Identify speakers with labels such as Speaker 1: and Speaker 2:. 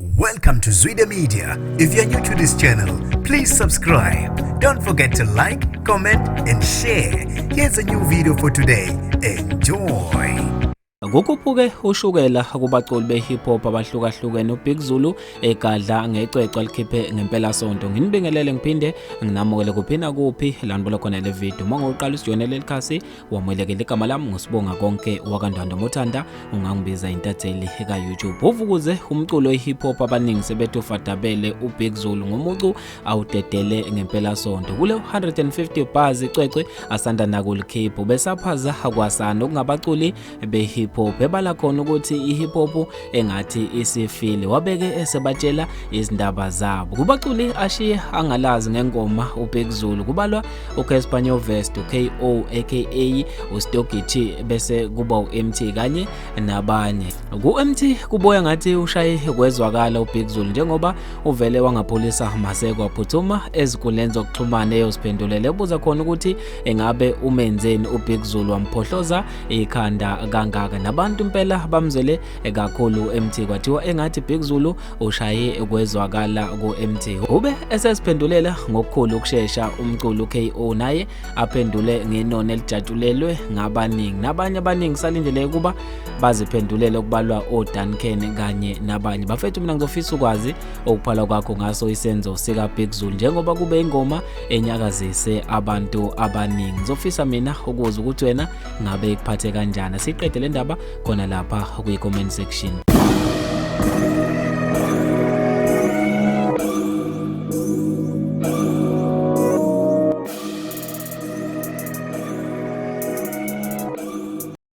Speaker 1: Welcome to Zwide Media. If you're new to this channel, please subscribe. Don't forget to like, comment and share. Here's a new video for today. Enjoy.
Speaker 2: Kukhuphuke ushukela kubaculi be-hip hop abahlukahlukene uBig Zulu egadla ngecwecwe alikhiphe ngempela sonto. Nginibingelele ngiphinde nginamukele kuphi nakuphi la nibona khona le video. Uma ngoqala usijoyinele leli khasi wamwelekela igama lami ngusibonga konke wakandwanda mothanda ungangibiza intatheli ka-youtube uvukuze umculo we-hip hop abaningi sebethi ufadabele ubig zulu ngomucu awudedele ngempelasonto kule 150 bars icwecwe asanda nakulikhiphu besaphaza kwasana okungabaculi be-hip hop ebala khona ukuthi i-hip hop engathi isifile wabeke esebatshela izindaba zabo kubaculi ashiye angalazi ngengoma ubhekuzulu kubalwa ucaspanyo vest uko aka ustogichi bese kuba u-mt kanye nabanye ku-mt kuboya ngathi ushaye kwezwakala ubhekuzulu njengoba uvele wangapholisa mase kwaphuthuma ezinkundleni zokuxhumana eyoziphendulele ebuza khona ukuthi engabe umenzeni ubhekuzulu wamphohloza ikhanda kangaka nabantu impela bamzele kakhulu MT kwathiwa engathi Big Zulu ushaye kwezwakala ku MT ube esesiphendulela ngokukhulu ukushesha umculo KO naye aphendule ngenoni elijatshulelwe ngabaningi nabanye abaningi salindele ukuba baziphendulele okubalwa oDuncan kanye nabanye bafethu mina ngizofisa ukwazi okuphala kwakho ngaso isenzo sika Big Zulu njengoba kube ingoma enyakazise abantu abaningi ngizofisa mina ukuza ukuthi wena ngabe ikuphathe kanjani siqede le ndaba khona lapha kwi-comment section